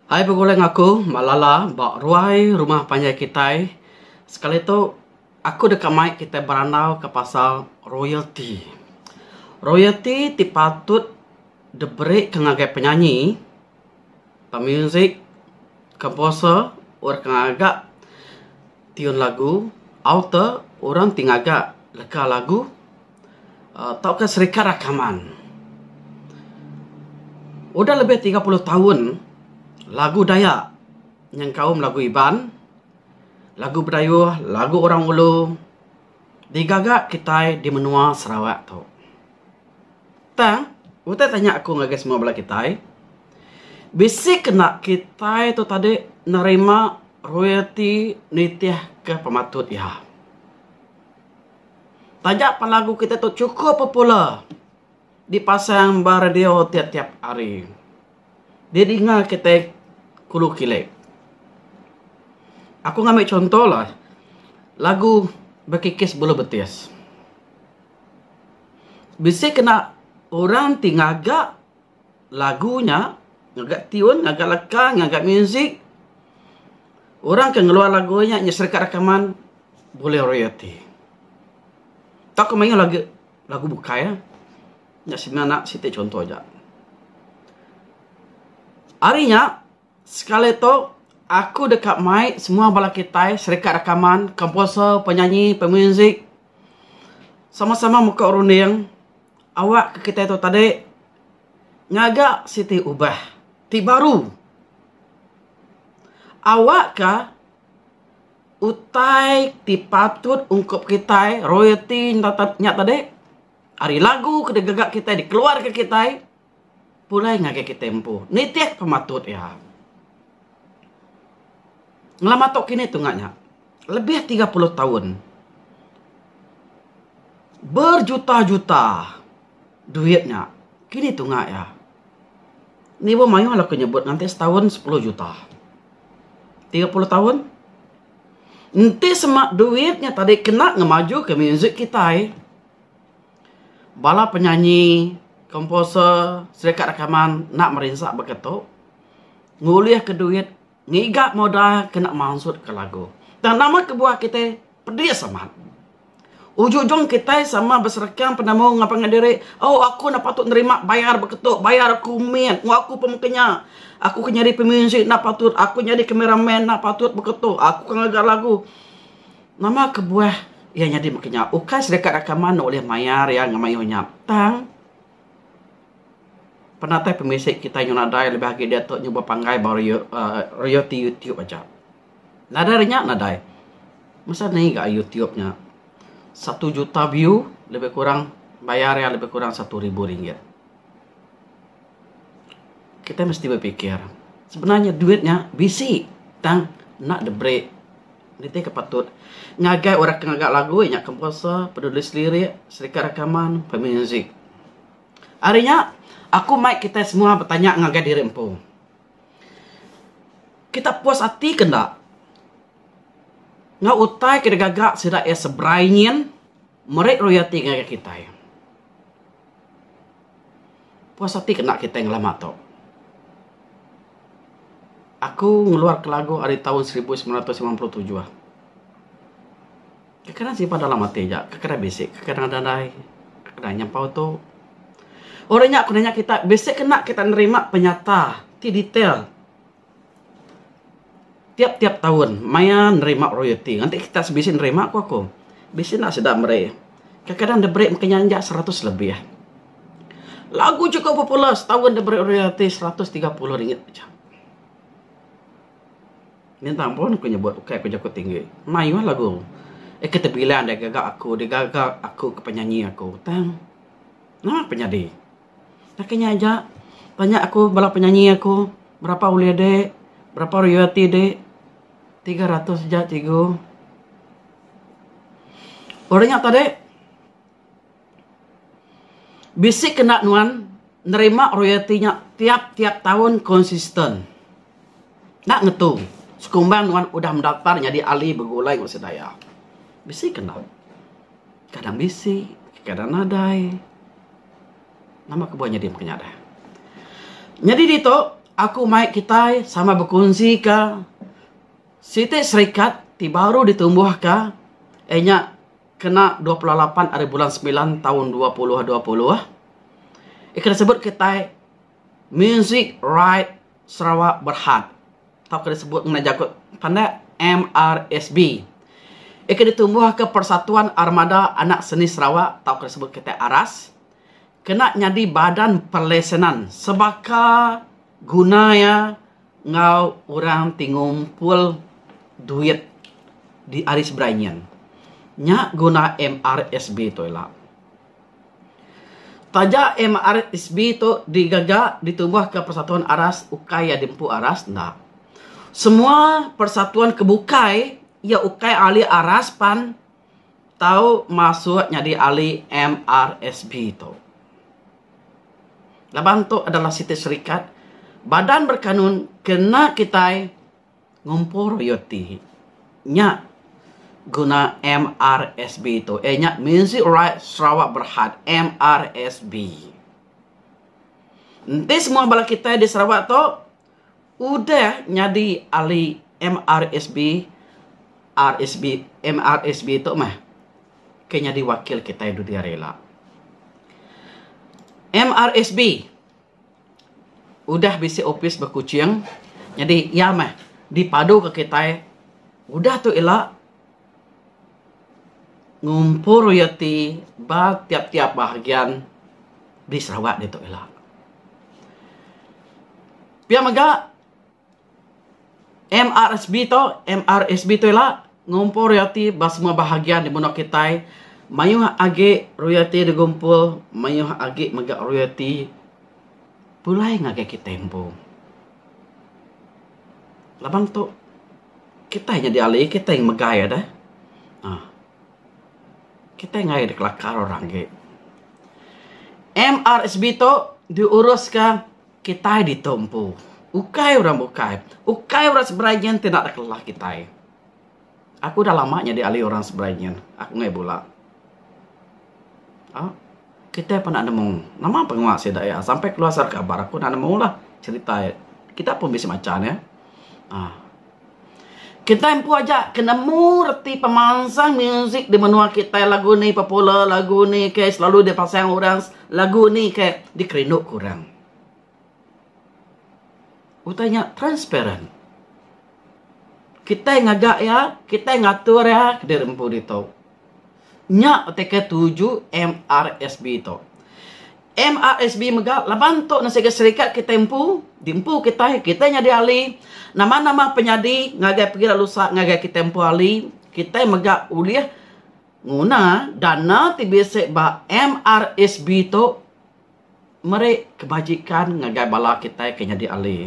Ai begulai enggau aku ba Lala ba ruai rumah panjai kitai, sekali tu aku deka mai kitai berandau ka pasal royalty. Royalty ti patut diberika ngagai penyanyi, pemuzik, komposer, orang ke ngaga tune lagu, author, orang ti ngaga leka lagu. tauka serikar rakaman. Udah lebih tiga puluh taun lagu Dayak nyengkaum lagu Iban, lagu Bidayuh, lagu Orang Ulu digaga kitai di menua Sarawak tu. Tang utai tanya aku ngagai semua bala kitai, bisi ke enda kitai tu tadi nerima royalti nitihka pematut iya? Taja pah lagu kitai tu chukup popular dipasang ba radio tiap tiap hari. Didinga kitai kulu kilik. Aku ngambi chunto lah lagu bekikis bulu betis. Bisi kena orang ti ngaga. lagu nya ngaga tune ngaga leka ngaga music orang ke ngeluar lagu nya nyadi sereka rakaman bulih orang ati tau ke mayuh lagi lagu bukai eh nya semina siti chunto ja. Ari nya sekali tu aku deka mai semua bala kitai sereka rakaman komposer penyanyi pemuzik sama sama meko runding Awak ke kitai tu tadi ngaga siti ubah ti baru. Awak ke utai ti patut ungkup kitai royalti enda nya tadi ari lagu ke digaga kitai dikeluarka kitai Pulai ngagai kitai empu nitih pematut iya. Ngelama tu kinih tunga nya lebih tiga puluh taun berjuta-juta duit nya kinih tunga iya. Indi pun mayuh laku nyebut nganti setaun sepuluh juta. Tiga puluh taun enti sema duit nya tadi kena ngemajuka muzik kitai. Bala penyanyi, komposer, serika rakaman enda merinsa baka tu ngulihka duit ngiga modal ke enda mansutka lagu. Tang nama kebuah kitai pedis amat. Ujung-ujung kitai sama beserka penemu enggau pangan diri, oh aku enda patut nerima bayar baka tu, bayar aku mit, mu aku pun meka nya. Aku ke nyadi pemuzik enda patut, aku nyadi camera man enda patut baka tu, aku ke ngaga lagu. Nama kebuah iya nyadi mega nya? Ukai sida ka rakaman enda ulih mayar iya enggau mayuh nya, tang penatai pemisi kitai nyau nadai lebih agi diatu nyuba panggai ba royo uhh royalty YouTube aja. Nadai ari nya nadai. Masa nai ga YouTube nya satu juta view lebih kurang bayar iya lebih kurang satu ribu ringgit. Kitai mesti bepikir sebenarnya duit nya bisi tang enda diberi. Nitih ke patut ngagai orang ke ngaga lagu nya komposer, penulis lirik, serika rakaman, pemuzik. Ari nya aku mai kitai semua betanya ngagai diri empu. Kita puas ati ke enda enggau utai ke digaga sida iya seberai nyin meri royalti ngagai kitai. Puas ati kena kitai ngelama tu. Aku ngeluarka lagu ari taun seribu semilan ratus lapan puluh tujuh. Kekanan simpan dalam ati ja, kekanan bisi, kekanan nadai, kekanan nyempau tu. Orang nya ku nanya kita bisi kena kita nerima penyata ti detail. Tiap-tiap taun maya nerima royalti ngagai kita sebisi nerima ku aku bisi enda sida meri. Kadang-kadang diberi maka inya injak seratus lebih. Lagu chikup popular setaun diberi royalti seratus tiga puluh ringgit aja. Bintang pun ku nyebut ukai ku jaku tinggi. Mayuh lagu eh ke tebilang dei gaga aku, dei gaga aku ke penyanyi aku tang. Nama pe nyadi? Baka nya aja tanya aku bala penyanyi aku berapa ulih de berapa royalty de tiga ratus aja cikgu. Orang nya tadi bisi kena nuan nerima royalty nya tiap tiap taun konsisten enda ngetu sekumbang nuan udah mendaftar nyadi ahli begulai enggau sida iya bisi kena. Kadang bisi, kadang nadai. Nama ke buah nyadi penyadah. Nyadi ditu, aku mai kitai sama bekunsika siti serikat ti baru ditumbuhka iya nya kena dua puluh lapan ari bulan semilan taun dua puluh dua puluh. Iya ke disebut kitai. Music Right Sarawak Berhad tauka disebut ngena jaku pandak MRSB iya ke ditumbuhka Persatuan Armada Anak Seni Sarawak tauka disebut kitai ARAS kena nyadi badan perlesenan sebaka guna iya enggau orang ti ngumpul duit di ari seberai nyin. Nya guna MRSB tu ila. Taja MRSB tu digaga ditubuhka persatuan aras ukai iya diempu aras enda. Semua persatuan ke bukai iya ukai ahli aras pan tau masuk nyadi ahli MRSB tu. Laban tu adalah siti serikat badan berkanun kena kitai Ngumpul royalti nya guna MRSB tu eh nya Music Right Sarawak Berhad MRSB. Enti semua bala kitai di Sarawak tu udah nyadi ahli MRSB RSB MRSB tu meh ke nyadi wakil kitai dudi hari ila. MRSB. Udah bisi opis ba Kuching, nyadi iya meh dipaduka kitai udah tu ila ngumpul royalti ba tiap-tiap bahagian di Sarawak ditu ila. Pia mega. MRSB to, MRSB to ila ngumpul royalti ba semua bahagian di menua kitai. Mayuh agi royalti digumpul, mayuh agi mega royalti pulai ngagai kitai empu. Laban to kitai nyadi ahli, kitai megai deh. uhh Kitai ngagai deh kelakar orang agi. MRSB to diurus ka. Kitai ditu empu ukai orang bukai, ukai orang seberai nyin ti enda deka ngelah kitai. Aku dah lama nyadi ahli orang seberai nyin, aku ngai bula. Au, kitai pun enda nemu nama pengawa sida iya sampai keluar serega bar aku enda nemulah cerita iya. Kita pun bisi macha ne. Aaa. Kitai empu aja ke nemu reti pemansang muzik di menua kitai lagu ni popular lagu ni ke selalu di pasang orang lagu ni ke dikerindu ku orang. Utai nya transparent. Kitai ngaga iya kitai ngatur iya diri empu ditu. Nya beteka tuju MRSB tu. MRSB mega laban tu ne siga serikat kitai empu, di empu kitai, kitai nyadi ahli, nama-nama penyadi ngagai pegila lusa ngagai kitai empu ahli, kitai mega ulih nguna dana ti bisi ba MRSB tu. meri kebajikan ngagai bala kitai ke nyadi ahli.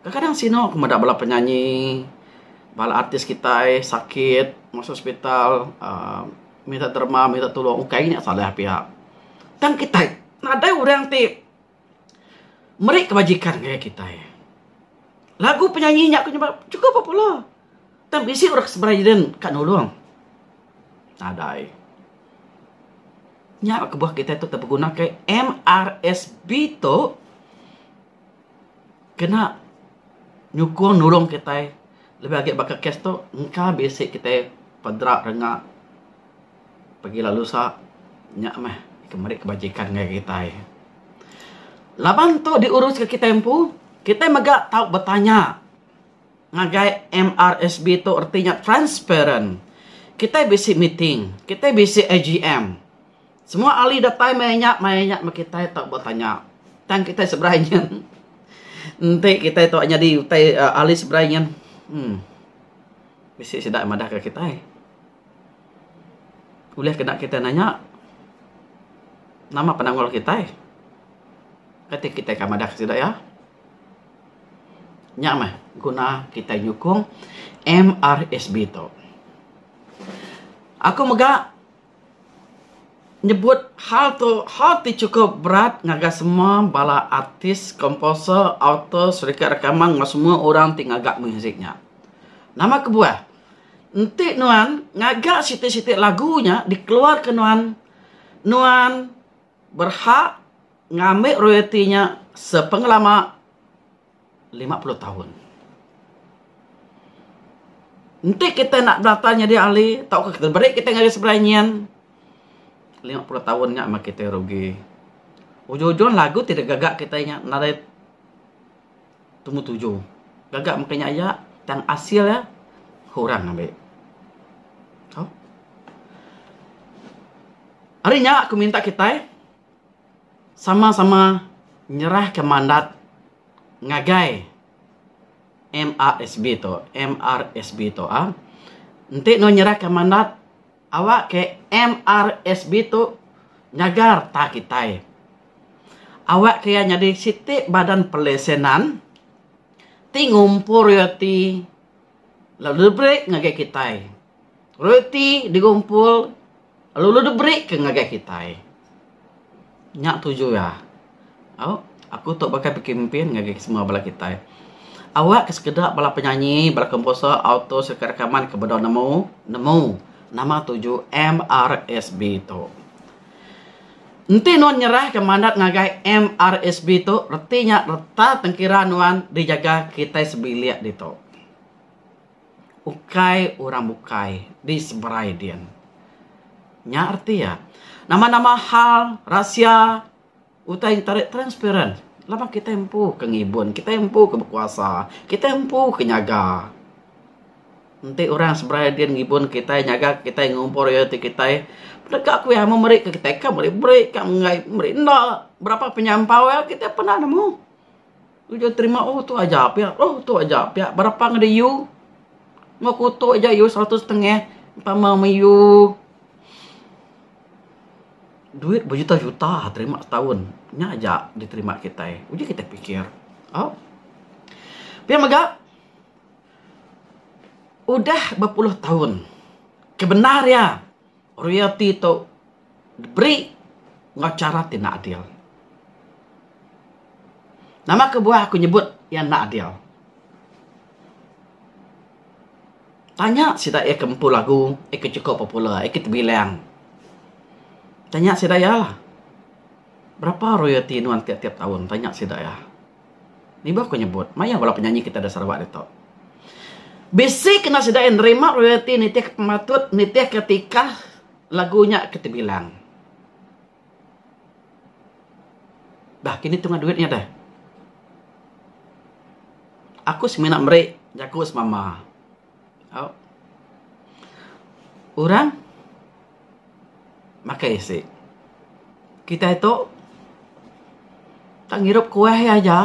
Kadang-kadang sinu ku meda bala penyanyi, bala artis kitai sakit masuk hospital uhh minta derma, minta tulung. Ukai nya salah pia. Tang kitai nadai orang ti meri kebajikan ngagai kitai. Lagu penyanyi nya ku nyebut chikup popular. Tang bisi orang ke seberai Eden ka nulung. Nadai. Nya kebuah kita tu terpeguna ke MRSB tu kena nyukung nulung kita lebih lagi baka kes tu engka bisi kita pedra rengak pergi lalu sa nya meh ke meri kebajikan ngagai kita. Laban tu diurus ke kita empu kita mega tau betanya. Ngagai MRSB tu reti nya transparent. Kitai bisi meeting, kitai bisi AGM. Semua ahli datai maya nya, maya nya meh kitai tau ba tanya. Tang kitai seberai nyin enti kitai tau nyadi utai ahli seberai nyin uhh bisi sida madah ka kitai. Ulih kena kitai nanya nama penanggul kitai. Kati kitai ka madah ka sida iya. Nya meh guna kitai nyukung MRSB tu. Aku mega nyebut hal tu hal ti chukup berat ngagai semua bala artis, komposer, autor, syarikat rakaman enggau semua orang ti ngaga muzik nya. Nama kebuah? Enti nuan ngaga siti-siti lagu nya dikeluarka nuan, nuan berhak ngambi royalti nya sepengelama lima puluh taun. Enti kitai enda berata nyadi ahli tauka diberi kitai ngagai seberai nyin, lima puluh taun nya meh kitai rugi. Ujung-ujung lagu ti digaga kitai nya nadai Tumu tuju. Gaga mega nya aya tang asil iya kurang ambi. Tau? Hari nya aku minta kitai sama-sama nyerahka mandat ngagai MRSB tu, MRSB tu. Enti nuan nyerahka mandat, Awak ke MRSB tu nyagar ta kitai. Awak ke iya nyadi siti badan pelesenan ti ngumpul royalti lalu diberi ke ngagai kitai. Royalti digumpul lalu diberi ke ngagai kitai. Nya tuju iya. Au, aku tok baka pekempin ngagai semua bala kitai. Awak ke sekeda bala penyanyi, bala komposer, autor sereta rakaman ke bedau nemu, nemu nama tuju MRSB tok. Enti nuan nyerahka mandat ngagai MRSB tok, reti nya reta tengkira nuan dijaga kitai sebilik ditok. Ukai orang bukai di seberai din. Nya reti iya. Nama-nama hal, rahsia utai entarit transparent laban kitai empu ke ngibun, kitai empu ke bekuasa, kitai empu ke nyaga. Enti orang seberai din ngibun kitai, nyaga kitai, ngumpul royalti kitai, deka ku iya meh meri ke kitai. Ka meri-meri, ka menggai meri enda. Berapa penyampau iya kitai pernah nemu. Tuju terima oh tu aja pia oh tu aja pia berapa ngeda iu ngo kuto aja iu seratus setengah tama me iu duit bejuta juta terima setaun nya aja diterima kitai uji kitai pikir au pia mega udah bepuluh taun kebendar iya royalty tu diberi enggau chara ti enda adil. Nama kebuah aku nyebut iya enda adil? Tanya sida iya ke empu lagu, iya ke chekup popular, iya ke tebilang. Tanya sida iya lah. Berapa royalty nuan ti tiap taun? Tanya sida iya. Nibuh aku nyebut, mayuh bala penyanyi kita da Sarawak ditu. Bisi kena sida iya nerima royalty nitihka pematut, nitihka tikah Lagu nya ke tebilang. Dah kini tunga duit nya deh. Aku semina meri jaku semama. Au. Orang makai isi. Kitai tu tak ngirup kuah iya aja.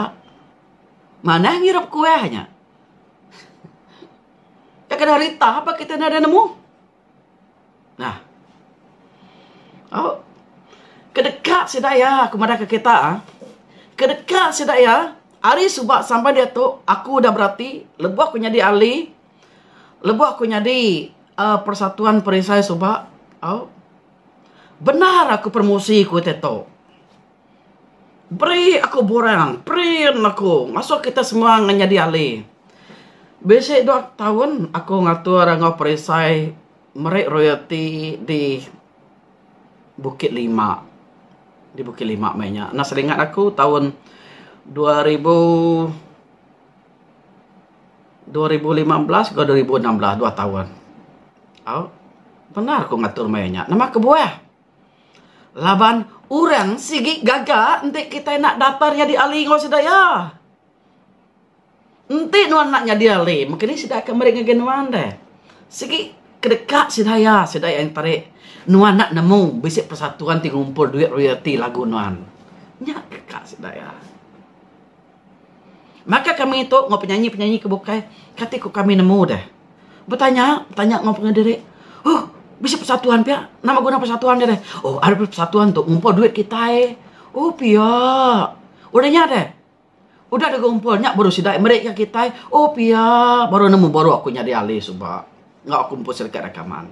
Manah ngirup kuah nya. Dak kena rita pa kitai enda nemu. Nah. Oh. Kedeka sida iya, aku madahka kita. Ah. Kedeka sida iya, hari suba sampai dia tu, aku dah berati, lebuh aku nyadi ahli, lebuh aku nyadi uh, persatuan perisai suba, oh. Benar aku promosi ku teto. Beri aku borang, print aku ngasuh kita semua ngan nyadi ahli. Bisi dua taun aku ngatur enggau perisai meri royalti di Bukit Lima, di Bukit Lima meh nya. Anak seringat aku taun dua ribu, dua ribu lima belas enggau dua ribu enam belas, dua taun. Au, pernah aku ngatur maya nya. Nama kebuah. Laban orang sigi gaga enti kitai enda datar nyadi ahli enggau sida iya. Enti nuan enda nyadi ahli, mung anih sida ke meri ngagai nuan deh. Sigi kedeka sida iya, sida iya nteri nuan enda nemu bisi persatuan ti ngumpul duit royalti lagu nuan. Nya deka sida iya. Maka kami tu enggau penyanyi-penyanyi ke bukai kati ku kami nemu deh. Betanya, betanya enggau pengeri diri, Huh, bisi persatuan pia? Nama guna persatuan nya deh? Oh, ari persatuan tu ngumpul duit kitai. Oh, pia. Udah nya deh. Udah deh ngumpul nya baru sida meri ke kitai. Oh, pia. Baru nemu baru aku nyadi ahli suba enggau aku mpu serikat rakaman.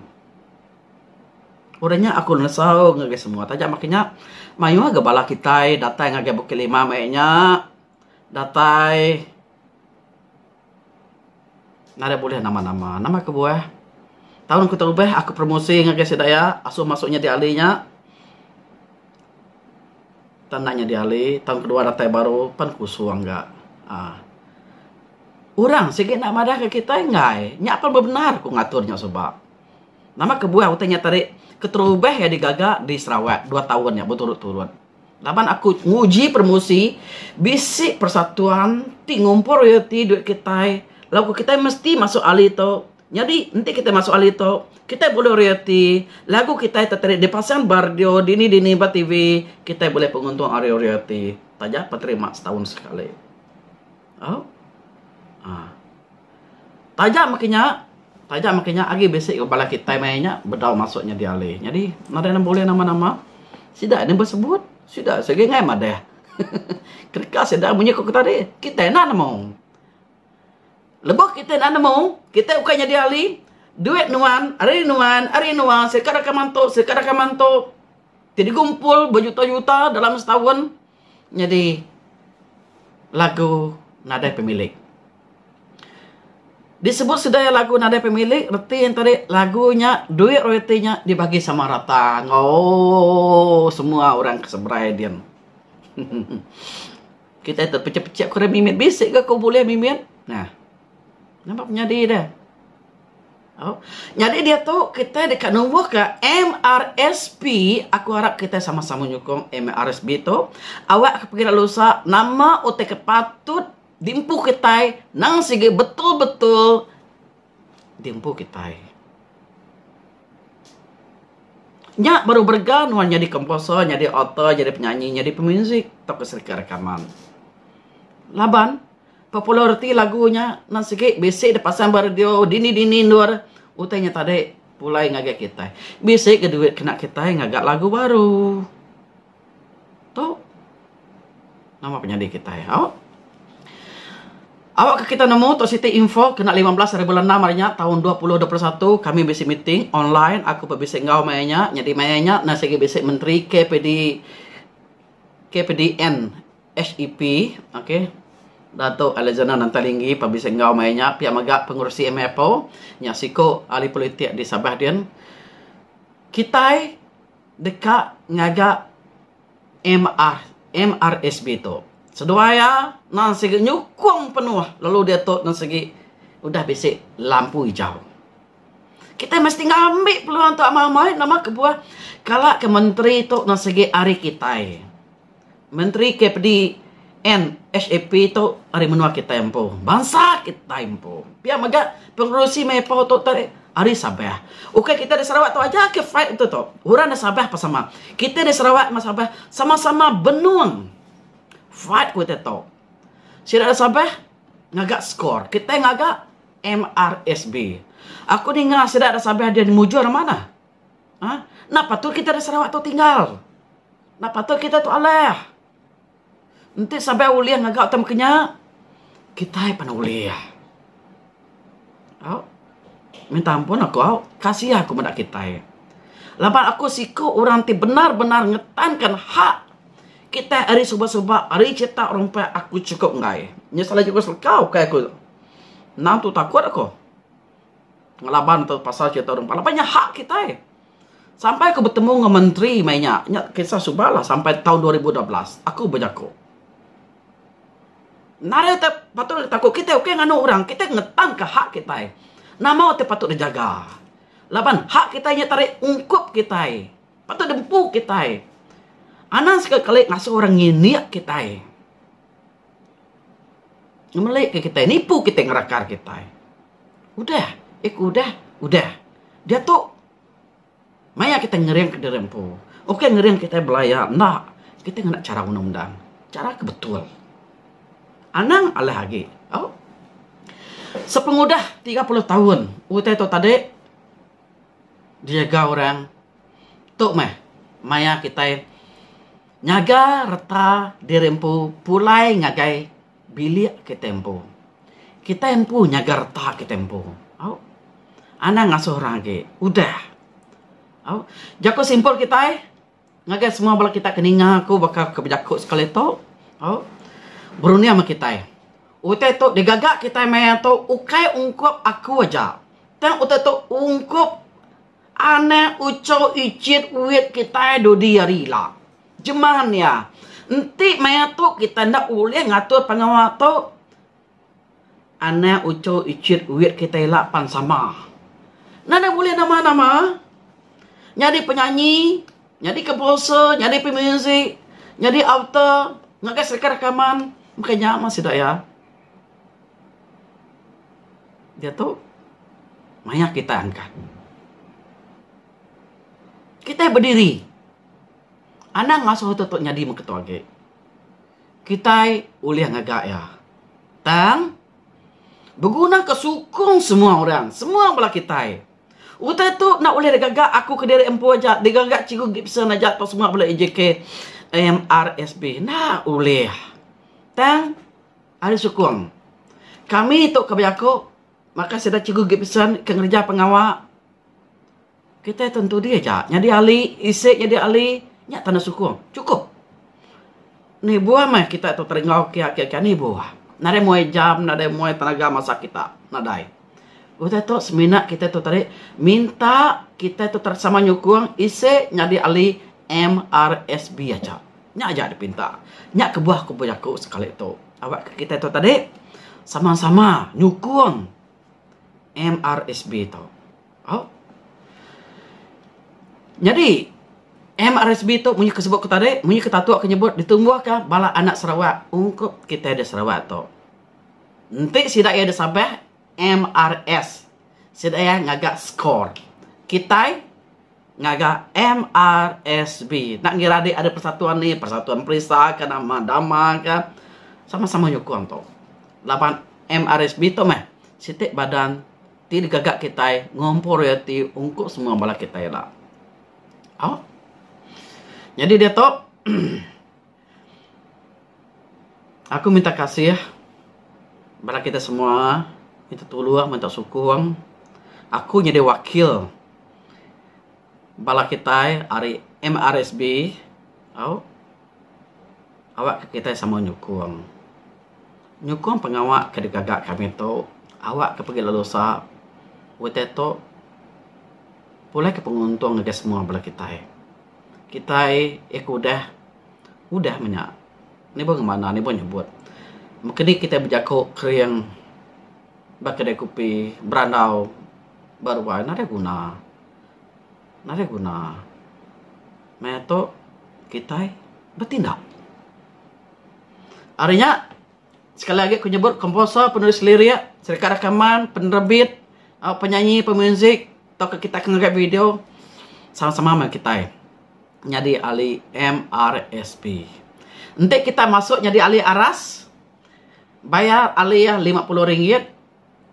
Udah nya aku ngesau ngagai semua taja makin nya mayuh ga bala kitai datai ngagai Bukit Limau meh nya datai nadai bulih nama nama. Nama kebuah taun ku tubah aku promosi ngagai sida iya asuh masu nyadi ahli nya tau enda nyadi ahli taun ke dua datai baru pan kusung ga aaa urang sigi enda madah ga kitai enggai nya pan bebendar ku ngatur nya suba. Nama kebuah utai nya tadi keterubah iya digaga di Sarawak dua taun nya beturut-turut. Laban aku nguji promosi bisi persatuan ti ngumpul royalti duit kitai lalu kitai mesti masuk ali tu. Nyadi enti kitai masuk ali tu kitai bulih royalti lagu kitai ti tadi dipasang ba radio dini-dini ba TV kitai bulih penguntung ari royalti taja penterima setaun sekali. Au. Ha. Taja maki nya, taja maki nya agi bisi ga bala kitai maya nya bedau masuk nyadi alih. Nyadi nadai nang bulih nama-nama. Sida nya besebut, sida nya sigi ngai madah. Kereka sida munyi ku tadi, kitai enda nemu. Lebuh kitai enda nemu, kitai ukai nyadi alih, duit nuan, ari nuan, ari nuan, sida ka deka mantu, sida ka deka mantu. Ti digumpul bejuta-juta dalam setahun, Nyadi lagu nadai pemilik. Disebut sida iya lagu nadai pemilik reti iya tadi lagu nya duit royalti nya dibagi sama rata enggau semua orang ke seberai din. Kitai tu picit-picit kurang mimit bisi ke ko bulih mimit. Nah. Nampak penyadi dia. Nyadi diatu kitai deka numbuhka MRSP, aku arap kitai sama-sama nyukung MRSP tu. Awak ke pengira lusa nama utai ke patut diempu kitai nang sigi betul-betul diempu kitai. Nya baru berega nuan nyadi komposer, nyadi author, nyadi penyanyi, nyadi pemuzik tauka serika rakaman. Laban. Populariti lagu nya nan sigi bisi dep pasang ba radio dini dini endur utai nya tadi pulai ngagai kitai. Bisi ga duit kena kitai ngaga lagu baru. Tu nama penyadi kitai au. Au ka kitai nemu tu siti info kena lima belas ari bulan enam ari nya taun dua puluh dua puluh satu kami bisi meeting online aku pun bisi enggau maya nya. Nyadi maya nya nan sigi bisi menteri KPD KPDN. HEP, okay, Datuk Alexander Nantalingi pebisi enggau maya nya pia mega pengerusi MIPO nya siku ahli politik di Sabah din. Kitai deka ngaga MR, MRSB tu. Seduai iya nan sigi nyukung penuh lalu diatu nan sigi udah bisi lampu ijau. Kitai mesti ngambi peluang tu amai-amai nama kebuah kala ke menteri tu nan sigi ari kitai. Menteri KPD and SAP tu ari menua kitai empu. Bansa kitai empu. Pia mega pengerusi meh ipoh tu tadi ari Sabah. Ukai kitai ari Sarawak tu aja ke fight tu tu. Orang ari Sabah pun sama. Kitai ari Sarawak enggau Sabah sama-sama benung fight ku kitai tu. Sida ari Sabah ngaga score. Kitai ngaga MRSB. Aku ninga sida ari Sabah mujur manah. Aa enda patut kitai orang Sarawak tu tinggal. Enda patut kitai tu alah. Enti sabai ulih ngaga utang maka nya kitai pan ulih. Au minta ampun aku au kasiah aku meda kitai. Laban aku siku orang ti bendar-bendar ngetanka hak kitai ari suba-suba ari chita orang pek aku chukup enggai. Nyusah lagi aku selekau ukai aku. Nang tu takut aku. ngelaban tu pasal cerita orang Pah laban nya hak kitai. Sampai aku betemu dengan menteri mai nya, nya kisah suba lah sampai taun dua ribu dua belas aku bejaku. Nadai utai patut diri taku kitai ukai nganu orang, kitai ngetanka hak kitai. Nama utai patut dijaga. Laban hak kitai nya tarik ungkup kitai. Patut diempu kitai. Anang sekali-kali ngasuh orang ngindik kitai. Ngemelika kitai, nipu kitai ngerakar kitai. Udah eh ku udah, udah. Diatu maya kitai ngeringka diri empu. Ukai ngering kitai belaya enda. Kitai ngena chara undang undang. Chara ke betul. Anang alah agi. Au. Sepengudah tiga puluh taun utai tu tadi dijaga orang tu meh maya kitai Ngaga reta diri empu pulai ngagai bilik kitai empu. Kitai empu nyaga reta kitai empu. Au. Anang ngasuh orang agi. Udah. Au. Jaku simple kitai ngagai semua bala kitai ke ninga aku baka ke bejaku sekali tu. Au. Berunding meh kitai. Utai tu digaga kitai maya tu ukai ungkup aku aja. Tang utai tu ungkup. Anak ucau icit wit kitai dudi ari ila. Jeman iya, enti maya tu kitai enda ulih ngatur pengawa tu, anak ucau icit wit kitai ila pan sama. Enda deh bulih nama-nama. Nyadi penyanyi, nyadi komposer, nyadi pemuzik, nyadi author ngagai serka rakaman. Maka nya mah sida iya. Diatu maya kitai angkat. Kitai bediri. Anang ngasuh atuk tu nyadi mung ketua agi. Kitai ulih ngaga iya. Tang, begunaka sukung semua orang, semua bala kitai. Utai tu enda ulih digaga aku kediri empu aja, digaga Cikgu Gibson aja tau semua bala AJK MRSB. Enda ulih. Tang. Ari sukung kami tu ka bejaku baka sida Cikgu Gibson ke ngereja pengawa kitai tentu dih aja nyadi ahli isi nyadi ahli nya tanda sukung chukup. Anih buah meh kita tu teringau ke ake ke anih buah. Nadai muai jam nadai muai tenaga masa kita nadai. Utai tu semina kita tu tadi minta kita tu sama nyukung isi nyadi ahli MRSB aja. Nya aja dep minta. Nya kebuah aku bejaku sekali tu. Awak ke kitai tu tadi sama-sama nyukung MRSB tu. Au. Nyadi MRSB tu munyi ke sebut ku tadi, munyi ke Tatu ke nyebut ditumbuhka bala anak Sarawak ungkup kitai da Sarawak tu. Enti sida iya da Sabah MRS sida iya ngaga score. Kitai ngaga MRSB. Enda ngira adi ada persatuan ni, persatuan perisa ke nama dama ke sama-sama nyukung tu. Laban MRSB tu meh siti badan ti digaga kitai ngumpul royalti ungkup semua bala kitai ila. Au. Nyadi diatu Aku minta kasih bala kitai semua minta tulung minta sukung aku nyadi wakil bala kitai ari MRSB au awak ke kitai sama nyukung. Nyukung pengawa ke digaga kami tu awak ke pegi lalu usa utai tu pulih ke penguntung ngagai semua bala kitai. Kitai ih ke udah. Udah meh nya. Nibuh ngemana, nibuh nyebut. Maka nih kitai bejaku kering ba kedai kopi, berandau ba ruai nadeh guna. Nadeh guna. Meh tu kitai betindak. Ari nya. Sekali agi aku nyebut komposer, penulis lirik, serika rakaman, penerbit, aaa penyanyi, pemuzik tauka kitai ke ngagai video sama-sama meh kitai nyadi ahli MRSP. Enti kitai masuk nyadi ahli aras bayar alih iya lima puluh ringgit.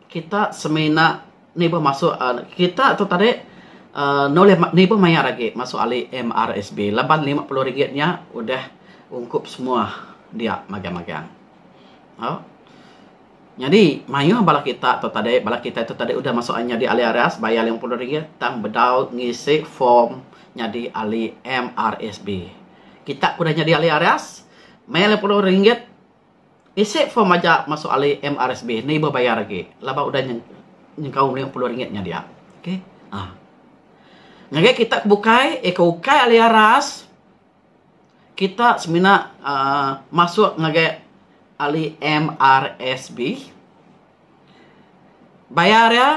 Kita semina nibuh masu uhh kita tu tadi uhh nulih nibuh mayar agi masu ali MRSB laban lima puluh ringgit nya udah ungkup semua dia magang-magang. Au. Nyadi mayuh bala kita tu tadi, bala kita tu tadi udah masu nyadi ahli IRAS bayar lima puluh ringgit tang bedau ngisi form nyadi ahli MRSB. Kita ke udah nyadi ahli IRAS mayar lima puluh ringgit. Isi form aja masuk ali MRSB enda ibuh bayar agi laban udah nyengkaum lima puluh ringgit nya dia. Okay. Ha. Ngagai kita ke bukai, eh ke ukai ali aras, kita semina uh, masuk ngagai ali MRSB. Bayar iya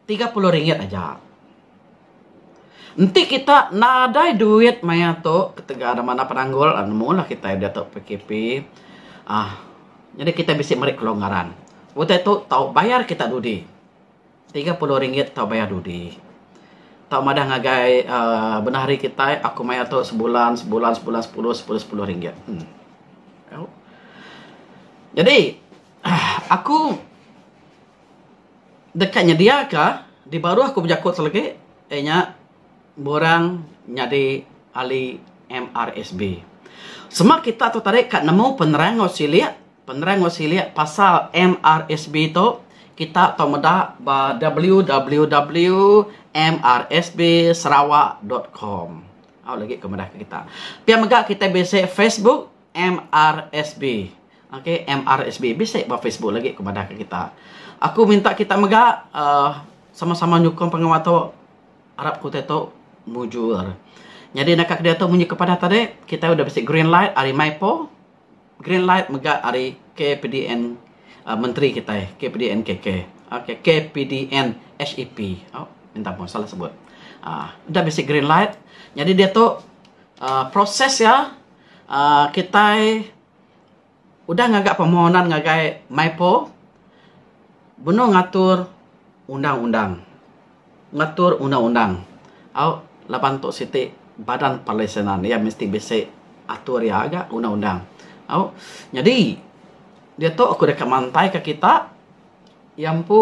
tiga puluh ringgit aja. Enti kita nadai duit maya tu ketegal da manah penanggul uhh nemu lah kita diatu PKP uhh nyadi kita bisi meri kelonggaran. Utai tu tau bayar kita dudi. Tiga puluh ringgit tau bayar dudi. Tau madah ngagai uhh bendar hari kita aku maya tu sebulan sebulan sebulan sepuluh sepuluh sepuluh ringgit. Uhh. Jadi. Aku deka nyediaka dibaruh aku bejaku ti legi iya nya borang nyadi ahli MRSB. Sema kita tu tadi ka nemu penerang enggau silik, penerang enggau silik pasal MRSB tu kita tau meda ba www.mrsbsarawak.com. Au legi ke madah kita. Pia mega kita bisi Facebook. MRSB. Ok, MRSB. Bisi ba Facebook lagi aku madah ke kita. Aku minta kita mega uh, sama-sama nyukung pengawa tu. Arap ku tu mujur. Jadi nak ke dia tu munyi kepada tadi, kita udah bisi green light ari Maipo. Green light mega ari KPDN uh, menteri kita, KPDN KK. Ok, KPDN HEP. Oh, minta pun salah sebut. Uh, udah bisi green light. Jadi dia tu uh, proses ya uhh kitai udah ngaga permohonan ngagai MYPO benung ngatur undang-undang, ngatur undang-undang au laban tu siti badan perlisenan iya mesti bisi atur iya ga undang-undang au. Nyadi diatu aku deka mantaika kita iya empu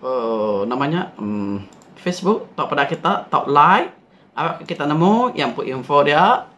uhh nama nya uhh Facebook tau peda kita tau like au kita nemu iya empu info dia.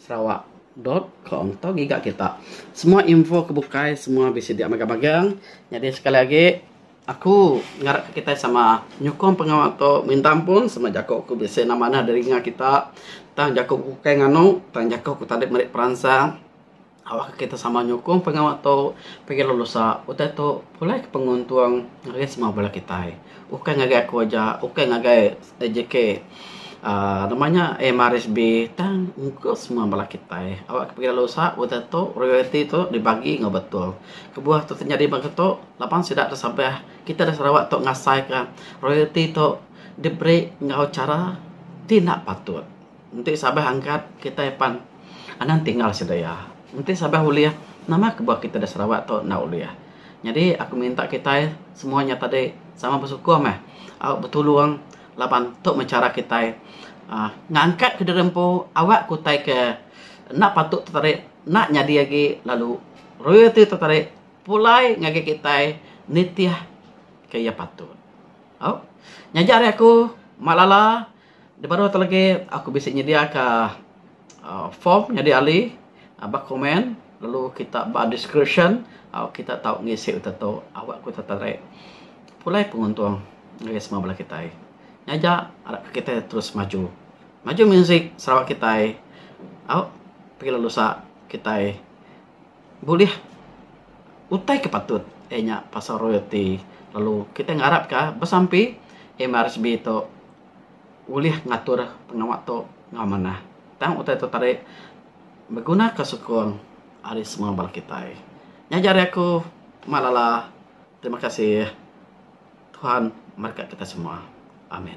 Sarawak. Dot com tu giga kita. Semua info ke bukai semua bisi dia mega magang. Nyadi sekali agi aku ngarap ka kitai sama nyukung pengawa tu minta ampun sama jaku ku bisi nama anih diri dinga kita tang jaku ku ukai nganu tang jaku ku tadi meri peransang. Awakka kita sama nyukung pengawa tu pagi lalu lusa utai tu pulai ke penguntung ngagai semua bala kitai. Ukai ngagai aku aja, ukai ngagai JK uhh nama nya MRSB tang engka semua bala kitai. Awakka pagi lalu lusa utai tu royalti tu dibagi enggau betul. Kebuah tu tanyadi bangsa tu laban sida da sabah kita da Sarawak tu ngasaika royalti tu diberi enggau chara ti enda patut. Enti sabah angkat kitai pan anang tinggal sida iya. Enti sabah ulih nama ke buah kitai da Sarawak tu enda ulih. Nyadi aku minta kitai semua nya tadi sama besukuh meh au betulung laban tu meh chara kitai uhh ngangkat ke diri empu awak ke utai ke enda patut tu tadi enda nyadi agi lalu royalty tu tadi pulai ngagai kitai nitih ke iya patut. Au nyaja ari aku Mak Lala. Dibaruh tu lagi aku bisi nyediaka form nyadi ahli ba komen lalu kita ba description kita tau ngisi utai tu awa ku kita tau narik pulai penguntung ngagai semua bala kitai. Nyaja harap ka kitai terus maju. Maju muzik Sarawak kitai au pagi lalu sa kitai. bulih utai ke patut iya nya pasal royalty lalu kita ngarap ka besampi MRSB tu ulih ngatur pengawa tu enggau manah tang utai tu tadi beguna ka sukung ari semua bala kitai. Nya ja ari aku Mak Lala terima kasih Tuhan berkat kita semua amin.